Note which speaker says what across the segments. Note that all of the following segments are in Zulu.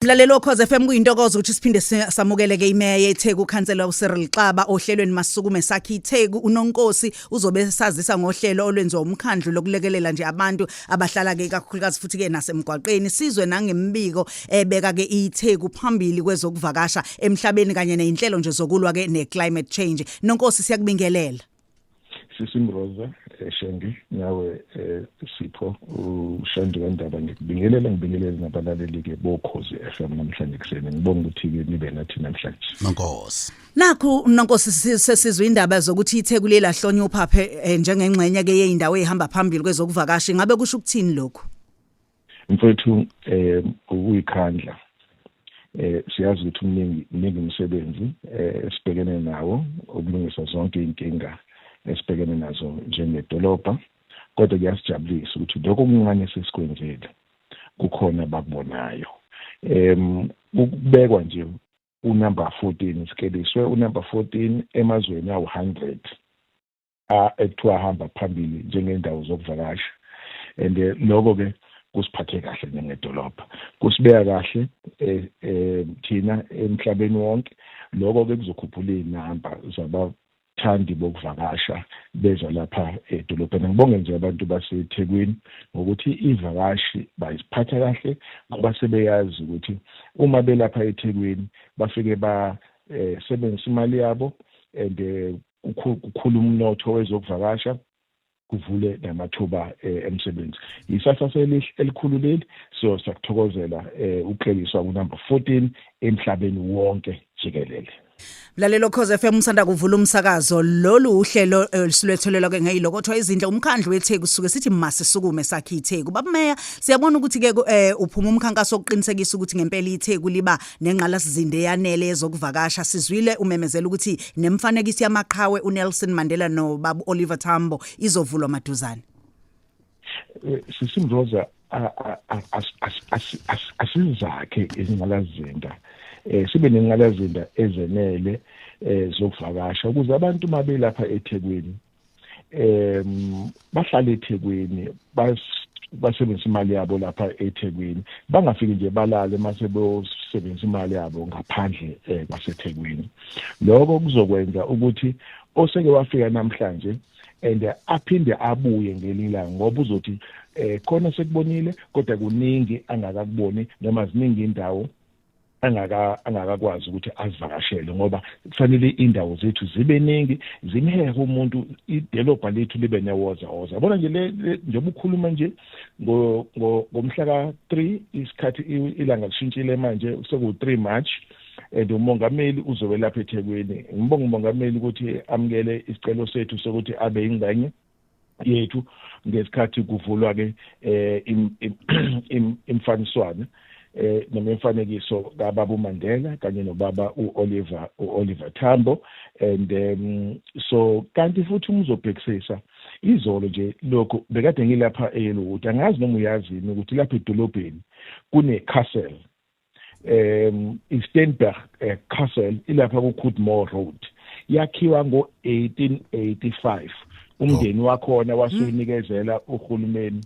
Speaker 1: Mlaleli okhoze FM kuyintokozo ukuthi siphinde samukele ke imeya yeTheku ukhansela uCyril Xaba ohlelweni masukume sakhe iTheku uNonkosi uzobe sazisa ngohlelo olwenziwa umkhandlu lokulekelela nje abantu abahlala ke kakhulukazi futhi ke nasemgwaqeni sizwe nangembiko ebeka ke iTheku phambili kwezokuvakasha emhlabeni kanye nezinhlelo nje zokulwa ke neclimate change Nonkosi siyakubingelela sisimroza
Speaker 2: eh, shendi nawe eh, sipho ushandi wendaba ngikubingelela ngibingelele nabalaleli-ke bokhozi f m namhlanje kuseni ngibonga ukuthi-ke nibe nathi namhlanje nonkosi
Speaker 1: nakhu nonkosi sesizwa indaba zokuthi ithekweli elahlonywa uphaphe eh, njengengxenye-ke yeyindawo eyihamba phambili kwezokuvakasha ingabe kusho ukuthini lokhu mfethu
Speaker 2: um eh, ukuyikhandla um eh, siyazi ukuthi umningi mningi umsebenzi um esibhekene nawo ukulungisa zonke iy'nkinga esibhekene nazo njengedolobha kodwa kuyasijabulisa ukuthi lokho okuncane sesikwenzile kukhona abakubonayo um ukubekwa nje unumber 14 sikeliswe unumber 14 emazweni awu-100 ekuthiwa ahamba phambili njengendawo zokuvakasha and eh, lokho ke kusiphathe kahle njengedolobha kusibeka kahle eh, eh, thina emhlabeni wonke lokho ke kuzokhuphula izinamba zaba thandi bokuvakasha beza lapha edolobheni ngibonge nje abantu baseThekwini ngokuthi ivakashi bayiziphatha kahle ngoba sebeyazi ukuthi uma belapha eThekwini bafike ba eh, sebenzisa imali yabo and eh, kukhula umnotho wezokuvakasha kuvule namathuba eh, emsebenzi yisasa selihle elikhulu leli so sakuthokozela eh, ukukleliswa kunumber 14 emhlabeni wonke jikelele Mlalelo
Speaker 1: Khoze FM usanda kuvula umsakazo lolu uhlelo eh, olusulethelelwa ke ngeyilo kodwa izindle umkhandlu weTheku suke sithi masisukume sakhe iTheku babumeya siyabona ukuthi ke eh, uphuma umkhankaso oqinisekisa ukuthi ngempela iTheku liba nengqalasizinda eyanele yezokuvakasha sizwile umemezela ukuthi nemfanekiso yamaqhawe uNelson Mandela noBabu Oliver Tambo izovulwa maduzane eh,
Speaker 2: sisimroza asizakhe izingqalazinda eh sibe nengqalazinda ezenele eh zokuvakasha ukuze abantu mabelapha eThekwini um bahlala ethekwini basebenzisa imali yabo lapha ethekwini bangafiki nje balale mase beyosebenzisa imali yabo ngaphandle um kwasethekwini lokho kuzokwenza ukuthi oseke wafika namhlanje and aphinde abuye ngelinye ilanga ngoba uzothi eh khona sekubonile kodwa kuningi angakakuboni noma ziningi indawo angaka angakakwazi ukuthi azivakashele ngoba kufanele indawo zethu zibe ningi zimhehe umuntu idolobha lethu libe newoza woza yabona nje le njengoba ukhuluma nje ngomhla ka-3 isikhathi ilanga lishintshile manje seku-3 march and umongameli uzobe lapha ethekwini ngibonga umongameli ukuthi amukele isicelo sethu sokuthi abe yingxenye yethu ngesikhathi kuvulwa ke eh imfaniswana eh noma imfanekiso kaBaba uMandela kanye noBaba uOliver uOliver Tambo and um, so kanti futhi umuzobhekisisa izolo nje lokho bekade ngilapha eYellowwood angazi noma uyazini ukuthi lapha edolobheni kune castle um iSteinberg eh, Castle ilapha kuCoodmore Road yakhiwa ngo-1885 umndeni oh. wakhona wasuyinikezela uhulumeni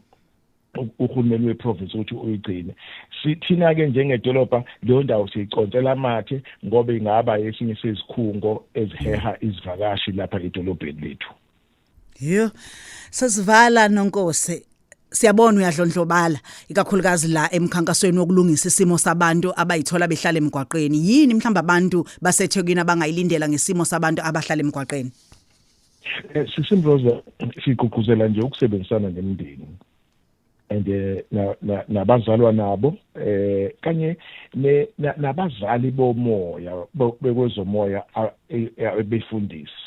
Speaker 2: uhulumeni weprovince ukuthi uyigcine sithina ke njengedolobha leyo ndawo siyiconsela amathe ngoba ingaba esinye sezikhungo eziheha izivakashi lapha edolobheni lethu Yho.
Speaker 1: Sesivala nonkosi. Siyabona uyadlondlobala ikakhulukazi la emkhankasweni wokulungisa isimo sabantu abayithola behlala emgwaqeni. Yini mhlawumbe abantu baseThekwini abangayilindela ngesimo sabantu abahlala emgwaqeni? Eh, Sisimroza
Speaker 2: sigqugquzela nje ukusebenzisana nemindeni and eh, nabazalwa nabo eh kanye nabazali bomoya bekwezomoya e, e, befundisi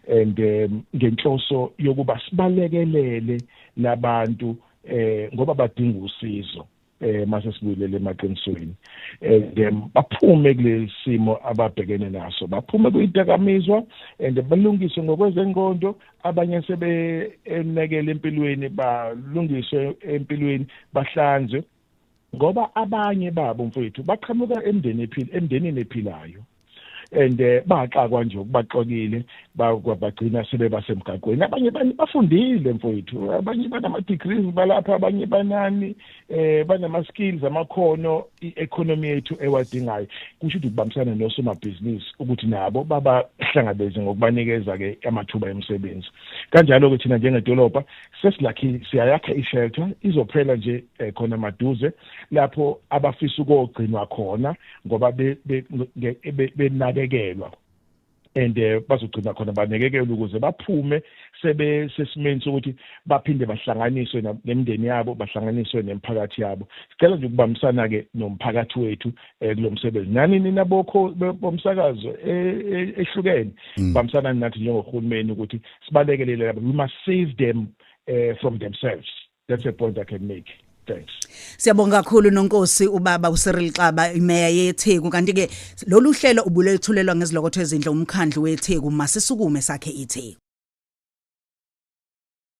Speaker 2: and eh, ngenhloso yokuba sibalekelele labantu eh ngoba badinga usizo eh mase sibuyelele emaqinisweni and eh, baphume kulesimo ababhekene naso baphume kuyidakamizwa and balungise ngokwezenqondo abanye sebenekele empilweni balungiswe empilweni bahlanzwe ngoba abanye babo mfowethu baqhamuka emndeni ephila emndenini ephilayo and eh, baxakwa nje ukubaxokile bagcina sebebasemgaqweni abanye bafundile mfowethu abanye banama-degrees balapha abanye banani eh banama skills amakhono i-economy yethu ewadingayo kusho ukuthi kubambisana nosomabhizinisi ukuthi nabo babahlangabeze ngokubanikeza ke amathuba emisebenzi kanjalo ke thina njengedolobha sesilakhile siyayakha ishelter izophela nje eh, khona maduze lapho abafisa ukogcinwa khona ngoba benakekelwa and eh, bazogcina khona banekekelwe ukuze baphume sebe sesimeni sokuthi baphinde bahlanganiswe nemndeni yabo bahlanganiswe nemphakathi yabo sicela nje ukubambisana ke nomphakathi wethu eh, kulomsebenzi nani nina bokho bomsakazo eh, eh, ehlukene mm. bambisana nathi njengohulumeni ukuthi sibalekelele labo we must save them uh, from themselves that's a point i can make thanks Siyabonga kakhulu
Speaker 1: nonkosi ubaba uCyril Xaba imeya yeTheku kanti ke lolu hlelo ubulethulelwa ngezilokotho ezindle umkhandlu weTheku masisukume sakhe iTheku